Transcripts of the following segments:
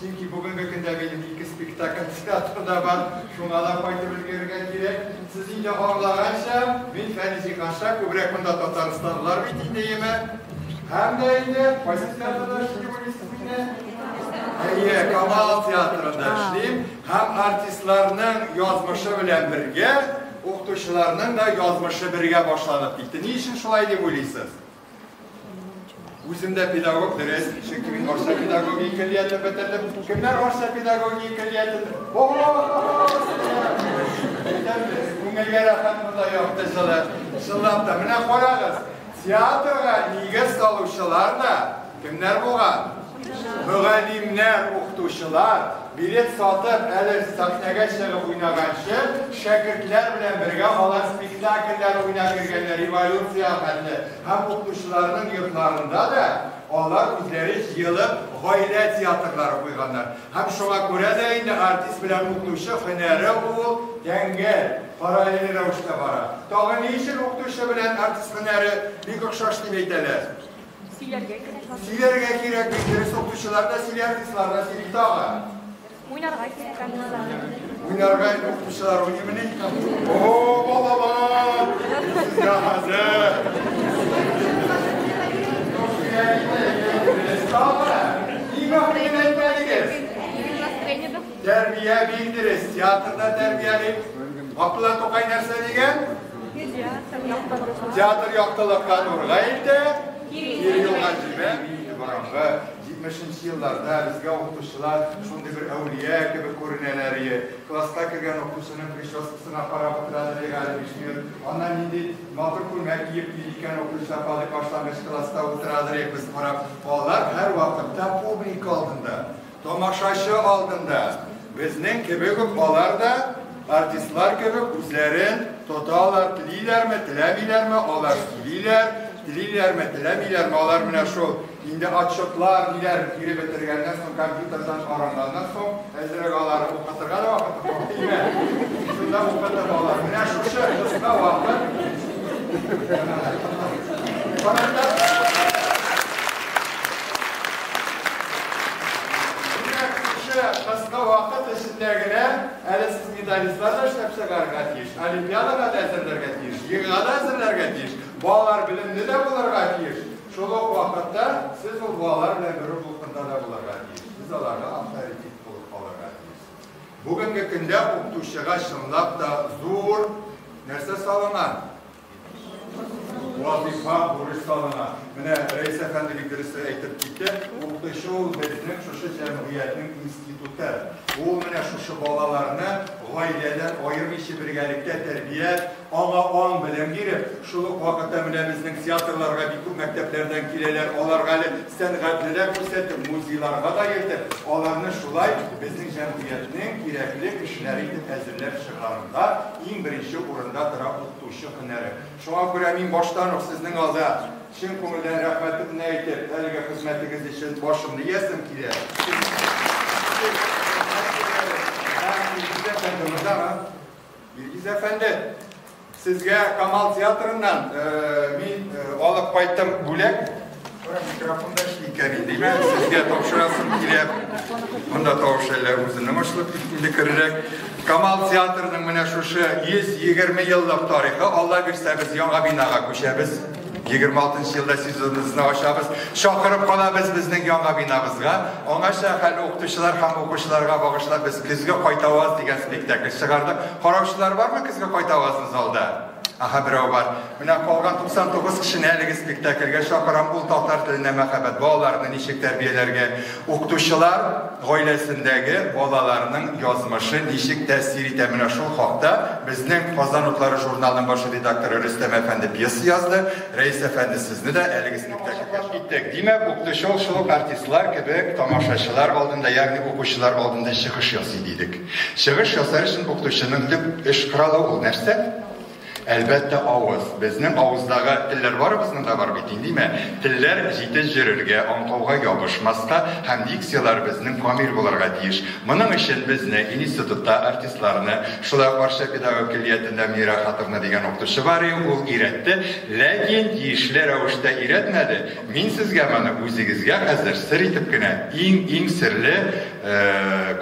Чөнки бүгенге көндә минем ике спектакль театрда да бар, шуңа да кайтып өлгерергә кирәк. Сез инде аңлаганча, мин Фәнизи ханша күбрәк монда татарстанлылар бит инде, яме? Һәм дә инде кайсы театрда эшли дип уйлыйсыз мине? Әйе, Камал театрында эшлим һәм артистларның язмышы белән бергә, укытучыларның да язмышы бергә башланып китте. Ни өчен шулай дип уйлыйсыз? Үзем дә педагог дөрес, чөнки мин Арча педагогия көллиятен бетердем. Кемнәр Арча педагогия көллиятен? Күңелгә рәхәт монда якты җылы. Чынлап та, менә карагыз, театрга нигез салучылар да, Кемнәр булган? Мөгаллимнәр, укытучылар, билет сатып, әле сәхнәгә чыгып уйнаганчы, шәкертләр белән бергә алар спектакльләр уйнап йөргәннәр, революция хәтле. Һәм укытучыларның йортларында да алар үзләре җыелып гаилә театрлары куйганнар. Һәм шуңа күрә дә инде артист белән укытучы һөнәре ул тәңгәл, параллель рәвештә бара. Тагын ни өчен укытучы белән артист һөнәре бик охшаш дип әйтәләр? Сөйләргә кирәк бабай. Сөйләргә кирәк бит, дөрес укучылар да сөйләр, дуслар да сөйли тагы. Уйнарга кирәк дуслар. Уйнарга укучылар уйнымыни? О, балалар! Сезгә хәзер. Тәрбия бирдерез, театрда тәрбияли. Габдулла Тукай нәрсә дигән? Театр яктылыкка нурга илтә, кире юлга җибә. Борынгы 70 елларда безгә укытучылар шундый бер әүлия кебек күренәләр иде. Класска кергән укытучының прическасына карап утыралар иде әле биш минут. Аннан нинди матур күлмәк киеп йөри икән укучылар кадый башлангыч класста утыралар иде без карап. Алар һәрвакытта публика алдында. Тамашачы алдында безнең кебек үк алар да артистлар кебек үзләрен тоталар, телиләрме, теләмиләрме, алар сөйлиләр, телиләрме, теләмиләрме, алар менә шул инде отчетлар диләр, кире бетергәннән соң компьютердан каранганнан соң, әзрәк алар укытырга да вакыты юк, димә. Шунда укытып алар. Менә шушы кыска вакыт. Караңда Димәк, шушы кыска вакыт эчендә генә әле сез медалистлар да эшләп чыгарга тиеш, олимпиадага да әзерләргә тиеш, ЕГЭга да әзерләргә тиеш. Балалар белемле дә булырга тиеш. Шул ук вакытта сез ул балалар белән бер үк дулкында да булырга тиеш. Сез аларга авторитет булып калырга тиешсез. Бүгенге көндә укытучыга чынлап та зур нәрсә салынган. Вазифа бурычларына. Менә Рәис әфәнде бик дөрес әйтеп китте. Укытучы ул безнең шушы җәмгыятьнең институты. Ул менә шушы балаларны гаиләдән аермыйча бергәлектә тәрбияләп, аңа аң-белем биреп, шул ук вакытта менә безнең театрларга бик күп мәктәпләрдән киләләр, аларга әле сәнгатьлеләр күрсәтеп, музейларга да йөртеп, аларны шулай безнең җәмгыятьнең кирәкле кешеләре итеп әзерләп чыгаруда иң беренче урында тора тотучы һөнәре. Шуңа күрә мин баштан ук сезнең алда чын күңелдән рәхмәтемне әйтеп, әлеге хезмәтегез өчен башымны иясем килә. Илгиз әфәнде, сезгә Камал театрыннан мин алып кайттым бүләк. Микрофонда эшли икән, димә, сезгә тапшырасым килә. Монда тавыш әллә үзенең ачылып киткәндә керерәк. Камал театрының менә шушы 120 еллык тарихы, Алла бирсә, без яңа бинага күчәбез. 26 елда сезоныбызны ачабыз. Чакырып калабыз безнең яңа бинабызга. Аңача хәл укытучылар һәм укучыларга багышлап без көзге кайтаваз дигән спектакль чыгардык. Караучылар бармы көзге кайтавазны залда? Аһа, берәү бар. Менә калган 99 кешене әлеге спектакльгә чакырам, ул татар теленә мәхәббәт. Балаларны ничек тәрбияләргә? Укытучылар гаиләсендәге балаларның язмышы ничек тәэсир итә? Менә шул хакта безнең Казан утлары журналының баш редакторы Рөстәм әфәнде пьеса язды. Рәис әфәнде, сезне дә әлеге спектакльгә киттек. Димәк, укытучы ул шул ук артистлар кебек тамашачылар алдында, ягъни укучылар алдында чыгыш ясый, дидек. Чыгыш ясар өчен укытучының төп эш коралы ул нәрсә? Әлбәттә, авыз. Безнең авыздагы телләр барыбызның да бар бит инде, димә. Телләр җитез йөрергә, аңкауга ябышмаска һәм дикцияләр безнең камил булырга тиеш. Моның өчен безне, институтта артистларны, шулай ук Арча педагогик көллиятендә Мира Хатовна дигән укытучы бар, ул өйрәтте, ләкин тиешле рәвештә өйрәтмәде. Мин сезгә моны үзегезгә хәзер сер итеп кенә, иң-иң серле,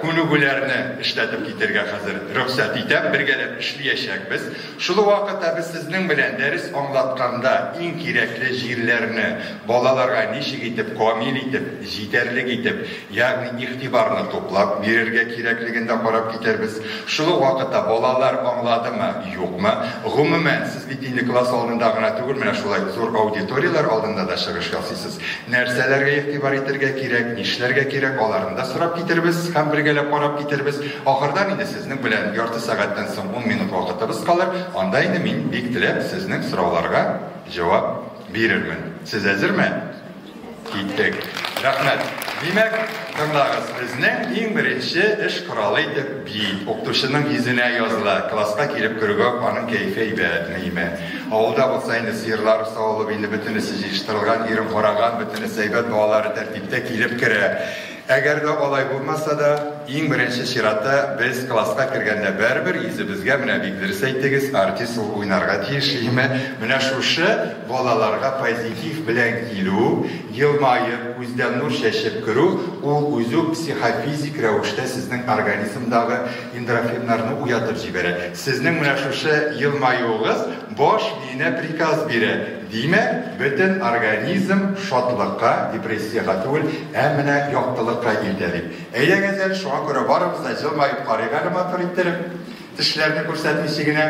Күнегүләрне эшләтеп китергә хәзер рөхсәт итәм, бергәләп эшлиячәкбез. Шул вакытта без сезнең белән дәрес аңлатканда иң кирәкле җирләрне, балаларга ничек итеп камил итеп, җитәрлек итеп, ягъни игътибарны туплап бирергә кирәклеген дә карап китәрбез. Шул ук вакытта балалар аңладымы, юкмы, гомумән, Светильник класс алдында гына түгел, менә шулай зур аудиторияләр алдында да чыгыш ясыйсыз. Нәрсәләргә игътибар итәргә кирәк, нишләргә кирәк, аларны да сорап китербез һәм бергәләп карап китербез. Ахырдан инде сезнең белән ярты сәгатьтән соң 10 минут вакытыбыз калыр, анда инде мин бик теләп сезнең сорауларга җавап бирермен. Сез әзерме? Киттек. Рәхмәт. Димәк, тыңлагыз, безнең иң беренче эш коралы итеп бит укытучының йөзенә языла. Класска килеп керүгә үк аның кәефе әйбәтмеме? Авылда булса инде сыерлар савылып, инде бөтенесе җыештырылган, ирен караган, бөтенесе әйбәт, балалары тәртиптә килеп керә. Әгәр дә алай булмаса да, иң беренче чиратта без класска кергәндә бәрбер йөзебезгә менә бик дөрес әйтегез, артист ул уйнарга тиеш, име? Менә шушы балаларга позитив белән килү, елмаеп, күздән нур чәчеп керү, ул үзе үк психофизик рәвештә сезнең организмдагы эндорфиннарны уятып җибәрә. Сезнең менә шушы елмаюыгыз баш миенә приказ бирә. Димәк, бөтен организм шатлыкка, депрессиягә түгел, ә менә яктылыкка илтә бит. Әйдәгез әле, шуңа күрә барыбыз да җылмаеп карыйк әле матур иттереп, тешләрне күрсәтмичә генә.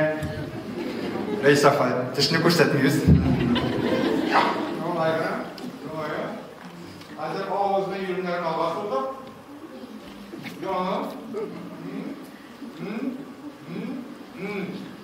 Рәис апа, тешне күрсәтмибез. Шулай гына, шулай гына. Хәзер авызны, иреннәрне алга сузып, җаным, м-м, м-м, м-м.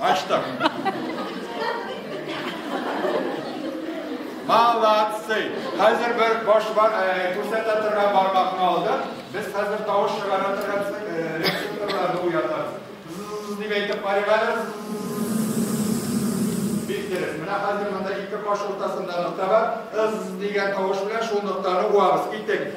Ачтык. Молодцы! Хәзер бер баш бар, күрсәтә торган бармакны алдык. Без хәзер тавыш чыгара торган рецепторларны уятабыз. Дип әйтеп карыйк әле. Бик дөрес. Менә хәзер монда ике каш уртасында нокта бар. Ыз дигән тавыш белән шул ноктаны уабыз. Киттек.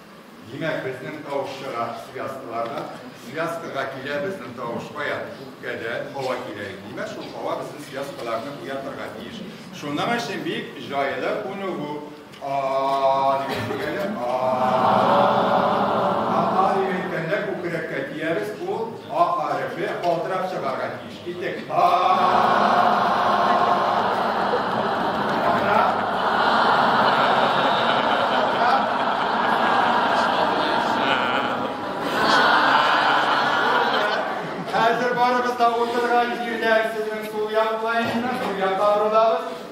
Димәк, безнең тавыш чыга связкалардан. Связкага килә безнең тавыш кая? Үпкәдә һава килә. Димәк, шул һава безнең связкаларны уятырга тиеш. Шуның өчен бик җайлы күнегү. А дигән дигәне а. А дигән дигәндә күкрәккә тиярбез, ул а хәрефе калтырап чыгарга тиеш. Китек. Хәзер барыбыз да утырган җирдә сезнең сул яклаешны, сул якта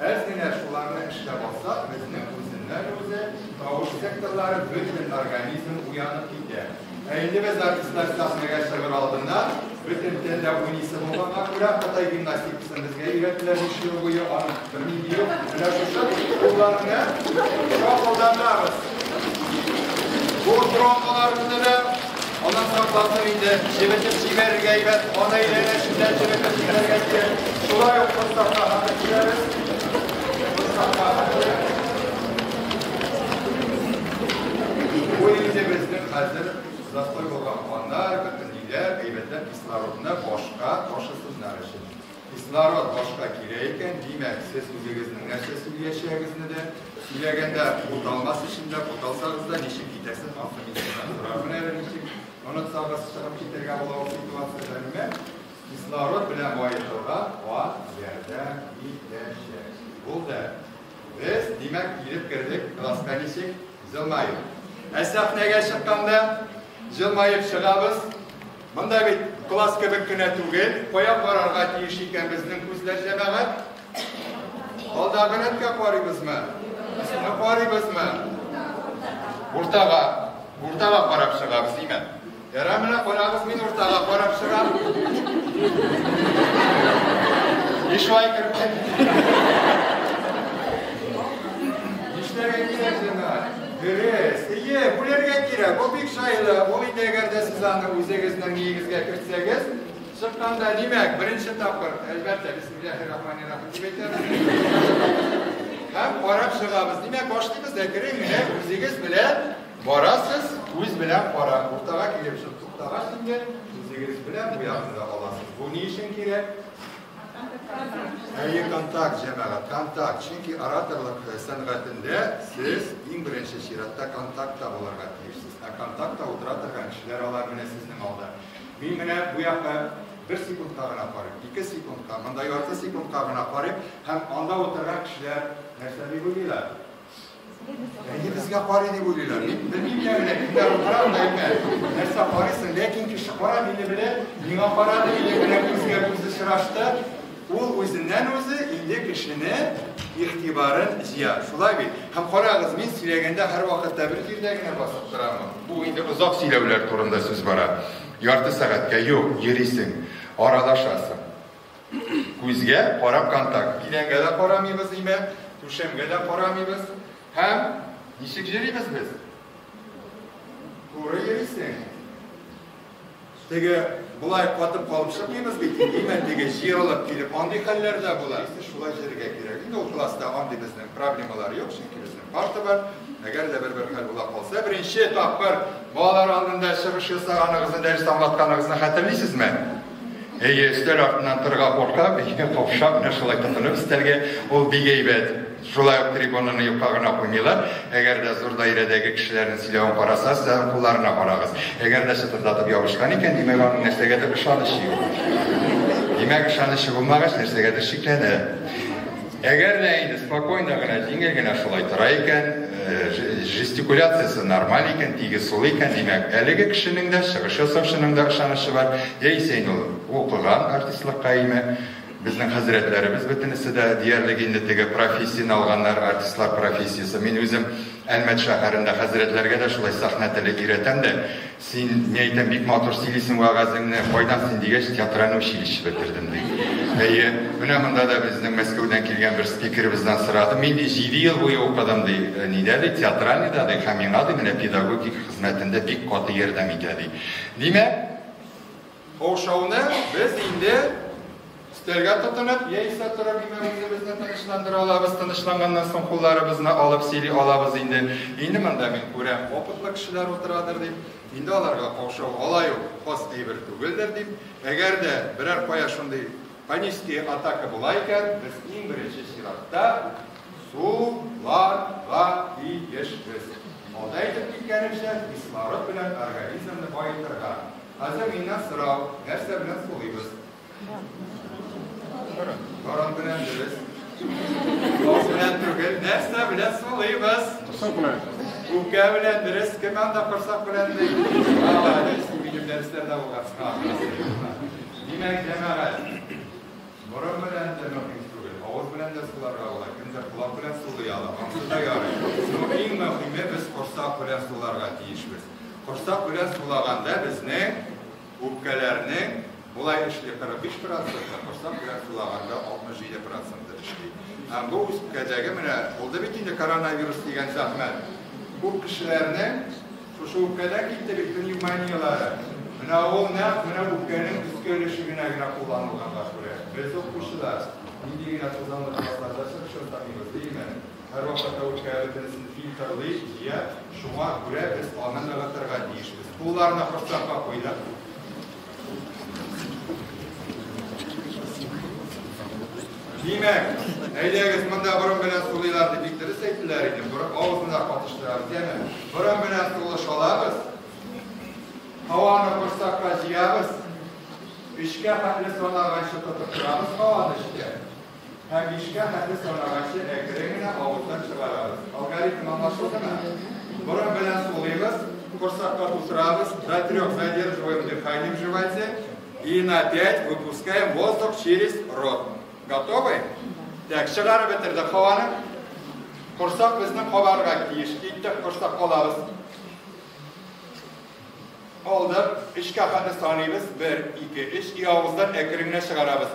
Әз генә шуларны эшләп алсак, безнең үзеннән-үзе тавыш секторлары, бөтен организм уянып китә. Ә инде без артистлар сәхнәгә чыгыр алдында бөтен тел дә уйныйсы булганга күрә Кытай гимнастикасын безгә өйрәттеләр биш ел буе, аны белмим юк. Менә шушы кулларны шапылдатабыз. Бу тромбалар үсә дә Аннан соң классым инде чебетеп җибәрергә әйбәт, аны әйләнәшеннән чебетеп җибәрергә кирәк. Шулай ук Мостафа хатын киләбез. Мостафа хатын. Бу инде безнең хәзер застой булган каннар, бөтен ниләр, әйбәтләп кислородны башка ташысыннар өчен. Кислород башка килә икән, димәк, сез үзегезнең нәрсә сөйлиячәгезне дә, сөйләгәндә буталмас өчен дә, буталсагыз да ничек китәсез, ансы мин сездән сорармын әле ничек, онытсагыз чыгып китергә була ул ситуация әмма кислород белән баетырга газ ярдәм итәчәк. Булды. Без, димәк, килеп кердек класска ничек? Җылмаеп. Ә сәхнәгә чыкканда җылмаеп чыгабыз. Монда бит класс кебек кенә түгел, кая карарга тиеш икән безнең күзләр, җәмәгать? Алдагы рәткә карыйбызмы? Өстенә карыйбызмы? Уртага, уртага карап чыгабыз, димә. Ярар, менә карагыз, мин уртага карап чыгам. И шулай кердем. Нишләргә кирәк, җәмәгать? Дөрес, ие, бүләргә кирәк, ул бик җайлы, ул инде әгәр дә сез аны үзегезнең нигезгә кертсәгез, чыкканда, димәк, беренче тапкыр, әлбәттә, бисмиллахи рахмани рахим дип әйтәбез. Һәм карап чыгабыз. Димәк, башлыйбыз да керең, менә үзегез белән барасыз, үз белән кара, уртага килеп чык, туктагач инде үзегез белән бу ягында аласыз. Бу ни өчен кирәк? Әйе, контакт, җәмәгать, контакт. Чөнки ораторлык э, сәнгатендә сез иң беренче чиратта контактта булырга тиешсез. Ә контактта утыра торган кешеләр алар менә сезнең алда. Мин менә бу якка бер секундка гына карыйм, ике секундка, монда ярты секундка гына карыйм һәм анда утырган кешеләр нәрсә дип уйлыйлар? Әйе, безгә карый дип уйлыйлар. Мин белмим дә генә, кемгә утырам да әйтә. Нәрсә карыйсың? Ләкин кеше кара мине белә, миңа карады, инде генә күзгә күз очрашты. Ул үзеннән үзе инде кешене игътибарын җыя. Шулай бит. Һәм карагыз, мин сөйләгәндә һәрвакытта бер җирдә генә басып торамы? Бу инде озак сөйләүләр турында сүз бара. Ярты сәгатькә юк, йөрисең, аралашасың. Күзгә карап контакт. Идәнгә дә карамыйбыз, димәк, түшәмгә дә карамыйбыз. Һәм ничек йөрибез без? Туры йөрисең. Теге болай катып калып чыкмыйбыз бит, димәк, теге җыелып килеп, андый хәлләр дә була. Шулай йөрергә кирәк. Инде ул класста андый безнең проблемалар юк, чөнки безнең парта бар. Әгәр дә бер-бер хәл була калса, беренче тапкыр балалар алдында чыгыш ясаганыгызны, дәрес аңлатканыгызны хәтерлисезме? Әйе, өстәл артыннан торырга куркам, ике капша менә шулай тотынып өстәлгә, ул бик әйбәт. Шулай ук трибунаны юкка гына куймыйлар. Әгәр дә зур даирәдәге кешеләрнең сөйләвен карасагыз, тагын кулларына карагыз. Әгәр дә чытырдатып ябышкан икән, димәк, аның нәрсәгәдер ышанычы юк. Димәк, ышанычы булмагач, нәрсәгәдер шикләнә. Әгәр дә инде спокойно гына, җиңел генә шулай тора икән, жестикуляциясе нормаль икән, тигез сулый икән, димәк, әлеге кешенең дә, чыгыш ясаучының да ышанычы бар. Яисә инде ул укыган артистлыкка име? Безнең хәзрәтләребез бөтенесе дә диярлек инде теге профессияне алганнар, артистлар профессиясе. Мин үзем Әлмәт шәһәрендә хәзрәтләргә дә шулай сәхнә теле өйрәтәм дә, Син, ни әйтәм, бик матур сөйлисең вәгазеңне, кайдан син дигәч, театральный училище бетердем ди. Әйе, менә монда да безнең Мәскәүдән килгән бер спикерыбыздан сорадым. Мин ди 7 ел буе укыдым ди, э, нидә ди, театральный да ди, һәм миңа ди, менә педагогик хезмәтендә бик каты ярдәм итә ди. Димәк, Каушауны без инде өстәлгә тотынып, яисә торып имә үзебезне тынычландыра алабыз, тынычланганнан соң кулларыбызны алып сөйли алабыз инде. Инде монда мин күрәм, опытлы кешеләр утырадыр дип, инде аларга каушау алай ук хас әйбер түгелдер дип, әгәр дә берәр кая шундый панический атака була икән, без иң беренче чиратта суларга тиешбез. Алда әйтеп киткәнемчә, кислород белән организмны баетырга. Хәзер миннән сорау, нәрсә белән сулыйбыз? Борын белән дөрес. Баш белән түгел, нәрсә белән сулыйбыз? Корсак белән. Үпкә белән дөрес, кем анда корсак белән ди? Молодец, минем дәресләрдә булган. Димәк, җәмәгать, борын белән дә мөһим түгел, авыз белән дә суларга була, кемдер колак белән сулый ала, ансыз да ярый. Но иң мөһиме, без корсак белән суларга тиешбез. Корсак белән сулаганда безнең үпкәләрнең болай эшли, 45 проценты, корсак белән сулаганда 67 проценты эшли. Һәм бу үпкәдәге менә булды бит инде коронавирус дигән зәхмәт. Күп кешеләрнең шушы үпкәдән китте бит пневмонияләре. Менә ул нәкъ менә үпкәнең өске өлешегенә генә кулланылганга күрә. Без укучылар нинди генә тузанлы классларда чыр-чыр тамыйбыз, димени? Һәрвакыт та үпкәле тенесен фильтрлый, җыя, шуңа күрә без аны ныгытырга тиешбез. Кулларны корсакка куйдык. Димәк, әйдәгез монда борын белән сулыйлар дип бик дөрес әйттеләр иде. Борын авызына катыштырабыз, яме. Борын белән сулы шалабыз. Һаваны корсакка җыябыз. Өчкә хәтле санаганчы тотып торабыз һаваны эчкә. Ә бишкә хәтле санаганчы әкрен генә авыздан чыгарабыз. Алгоритм аңлашылдымы? Борын белән сулыйбыз, корсакка тутырабыз, до трех задерживаем дыхание в животе и на пять выпускаем воздух через рот. Готовы? Так, чыгарып бетердек һаваны. Корсак безнең кабарга тиеш. Киттек, корсак калабыз. Алдык, эчкә хәтле саныйбыз. 1, 2, 3 и авыздан әкрен генә чыгарабыз.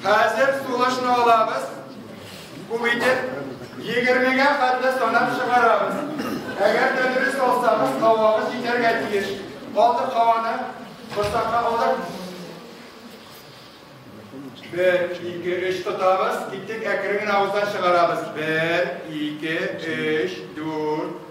Хәзер сулышны алабыз, күп итеп, егермегә хәтле санап чыгарабыз. Әгәр дә дөрес алсагыз, һавагыз җитәргә тиеш. Калдык һаваны корсакка алдык. Бер, ике, өч тотабыз, киттек, әкрен генә авыздан чыгарабыз. Бер, ике, өч, дүрт,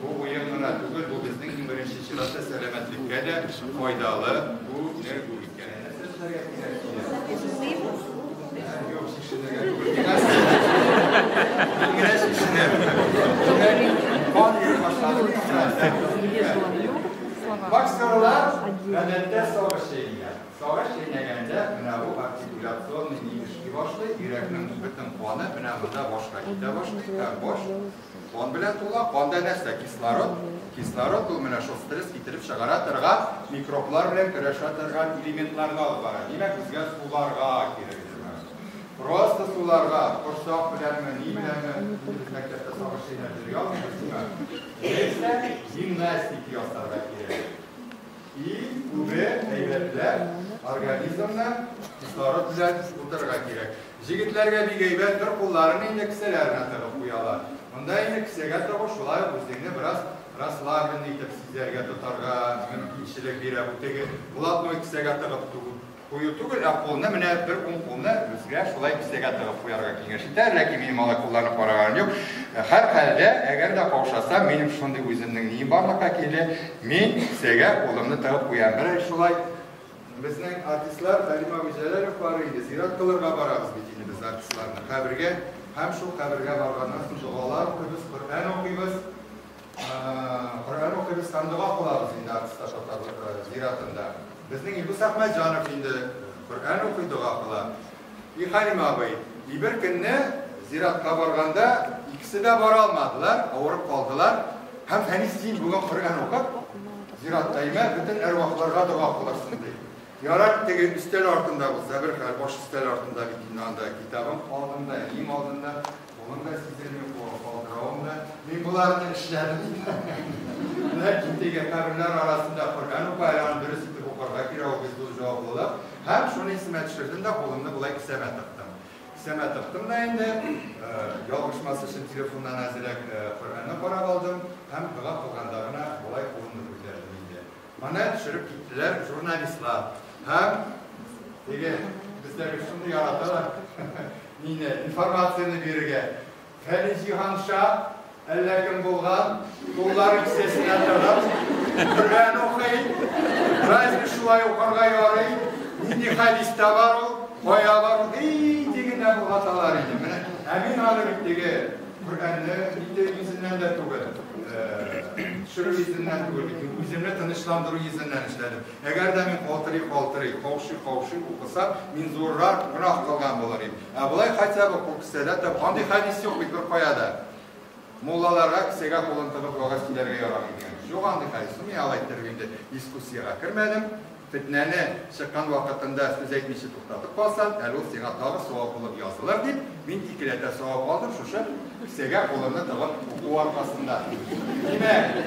Бу уен гына түгел, бу безнең иң беренче чиратта сәламәтлеккә дә файдалы күнегү икән. Сезләргә кирәк Боксерлар гадәттә сагыш чәйниләр. Сагыш чәйнәгәндә менә бу артикуляционный нигезки башлый, йөрәкнең бөтен каны менә монда башка китә башлый, ә баш Кан белән тула, канда нәрсә? Кислород. Кислород ул менә шул стресс китереп чыгара торган, микроблар белән көрәшә торган элементларны алып бара. Димәк, безгә суларга кирәк. Просто суларга, корсак беләнме, ни беләнме, без мәктәптә сагыш чәйнәп йөри алмыйбыз, димәк. Нәрсә? Гимнастик ясарга кирәк. Иң күбе әйбәтләр организмны кислород белән тутырырга кирәк. Җегетләргә бик әйбәт, бер кулларын инде кесәләренә тыгып куялар. Монда инде кесәгә тыгу шулай ук үзеңне бераз расслаблен итеп сизәргә, тотарга мөмкинчелек бирә. Бу теге блатной кесәгә тыгып Кую түгел, ә кулны менә бер уң кулны безгә шулай кесәгә тыгып куярга киңәш итә, ләкин минем алай кулланып караганым юк. Хәр хәлдә, әгәр дә каушасам, минем шундый үземнең нием барлыкка килде, мин кесәгә кулымны тыгып куям. Менә шулай безнең артистлар Хәлим абый Җәләлов бар инде, зират кылырга барабыз бит инде без артистларны, кабергә. Һәм шул кабергә барганнан соң догалар укыйбыз, Коръән укыйбыз. Коръән укыйбыз, һәм дога кылабыз инде артиста татарлык зиратында. Безнең Илдус Әхмәтҗанов инде Коръән укый, дога кыла. И Хәлим абый, и бер көнне зиратка барганда, икесе дә бара алмадылар, авырып калдылар. Һәм Фәнис, син бүген Коръән укып, зиратта имә, бөтен әрвахларга дога кылырсың, ди. Ярар, теге өстәл артында булса, бер хәл, баш өстәл артында бит инде анда китабым алдында, иң алдында. Моның да сиземе юк булган калдыравым да. Мин боларны эшләдем. Ләкин теге каберләр арасында Коръән уку әле аны дөрес итеп укырга кирәк, ул бит зур җаваплылык. Һәм шуны исемә төшердем дә кулымны болай кесәмә тыктым. Кесәмә тыктым да инде ялгышмас өчен телефоннан әзрәк Коръәнне карап алдым һәм дога кылганда гына болай кулымны күтәрдем инде. Моны төшереп киттеләр журналистлар һәм теге бездәге шуны яраталар, нины, информацияне бирергә. Фәнис Җиһанша әллә кем булган, куллары кесәсенә тыгып, Коръән укый, разве шулай укырга ярый, нинди хәдистә бар ул, кая бар ул, ди генә болгаталар иде. Менә, ә мин аны бит теге Күргәнне инде үзеннән дә түгел, төшерү йөзеннән түгел, үземне тынычландыру йөзеннән эшләдем. Әгәр дә мин калтырый-калтырый, каушый-каушый укысам, мин зуррак гөнаһ кылган булыр идем. Ә болай хотя бы кул кесәдә тә, андый хәдис юк бит бер кая да. Муллаларга кесәгә кулын тыгып вагаз сөйләргә ярамый дигән. Юк андый хәдис. Мин алай тербинде дискуссиягә кермәдем. Фетнәне чыккан вакытында сүз әйтмичә туктатып калсаң, әле ул сиңа тагы савап булып язылыр, дип, мин икеләтә савап алдым шушы кесәгә кулымны тыгып уку аркасында. Димәк,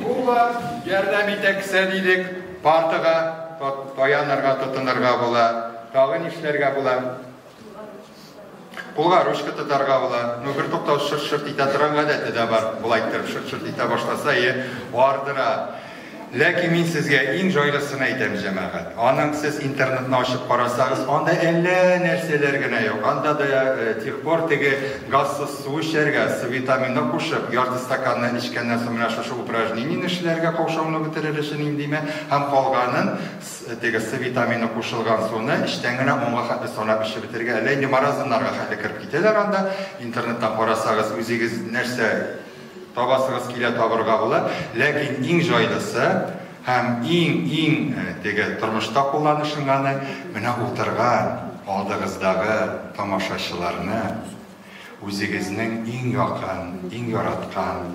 Куба ярдәм итә кесә дидек, партага таянырга, тотынырга була. Тагы нишләргә була? Кулга ручка тотарга була. Ну, бер туктау шырт-шырт итә торган гадәте дә бар. Болай иттереп шырт-шырт итә башласа, е, ардыра. Ләкин мин сезгә иң җайлысын әйтәм, җәмәгать. Аның сез интернетны ачып карасагыз, анда әллә нәрсәләр генә юк. Анда да э, тех пор теге газсыз су эчәргә, с витаминны кушып, ярты стаканны эчкәннән соң менә шушы упражнениене эшләргә каушауны бетерер өчен индиме, һәм калганын Теге С витамины кушылган суны эчтән генә онга хәтле санап эчеп бетерергә. Әллә инде маразмнарга хәтле кереп китәләр анда. Интернеттан карасагыз, үзегез нәрсә табасыгыз килә, табырга була. Ләкин иң җайлысы һәм иң-иң теге тормышта кулланышынганы, менә утырган алдыгыздагы тамашачыларны үзегезнең иң якын, иң яраткан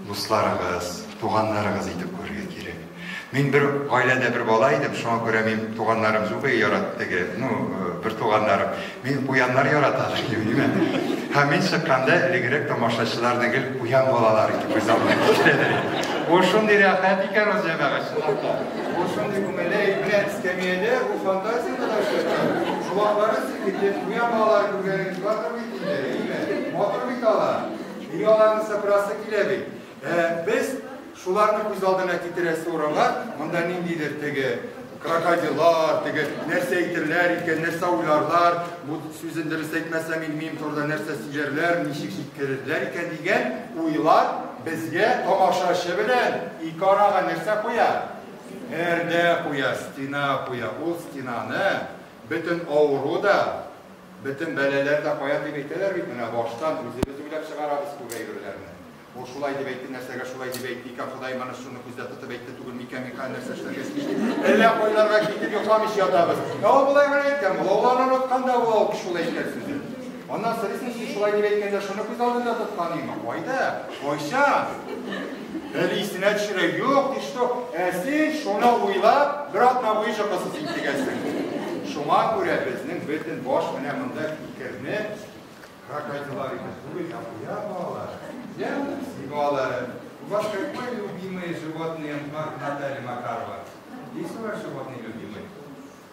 дусларыгыз, туганнарыгыз итеп күрергә кирәк. Мин бер гаиләдә бер бала идем, шуңа күрә мин туганнарым юк и ярат теге, ну, э, бер туганнарым. Мин куяннар ярата димме? Һәм мин чыкканда элегрәк тамашачыларны гел куян балалар итеп күз алдына китерәләр. Бу шундый рәхәт икән ул җәмәгать чынлап та. Бу шундый күңелле, менә эскәмиядә бу фантазия гына эшләп тора. Шулаклары сикертеп, куян балалар күргән Батыр бит инде, әйме? Матур бит алар. Ник аларны сыпырасы килә бит? Ә, без шуларны күз алдына китерәсе урынга, монда ниндидер теге крокодилар, теге нәрсә әйтерләр икән, нәрсә уйларлар, бу сүзен дөрес әйтмәсәм, мин мин турында нәрсә сөйләрләр, ничек җиткерерләр икән дигән уйлар безгә тамашачы белән ике арага нәрсә куя? Пәрдә куя, стена куя. Ул стенаны бөтен авыру да, Бөтен бәлаләр дә каян дип әйтәләр бит, менә баштан үзебез уйлап чыгарабыз күп әйберләрне. Ул шулай дип әйтте, нәрсәгә шулай дип әйтте икән, Ходаем аны шуны күздә тотып әйтте түгел микән, мин хәзер нәрсә эшләргә тиеш дип, әллә кайларга китеп йокламыйча ятабыз. Ә ул болай гына әйткән була, ул аны оныткан да була ул шулай әйткән сүзен. Аннан сорыйсың, син шулай дип әйткәндә шуны күз алдында тотканыймы? Кайда? Кайса? Бер исенә төшерә, юк, и что? Ә син шуны уйлап, бер атна буе чакасыз интегәсең. Шуңа күрә безнең бөтен баш менә монда фикерне крокодилар итеп түгел, ә куя балалар. Я, балалары. У вас какое любимое животное, Наталья Макарова? Есть у вас животное любимое?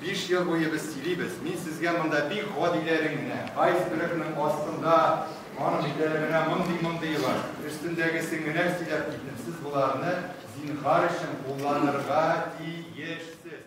Биш ел буе без сөйлибез, мин сезгә монда бик гади ләрен генә, айсбергның астында аның җиләре менә мондый-мондые бар, өстендәгесен генә сөйләп киттем, сез боларны, зинһар өчен, кулланырга тиешсез.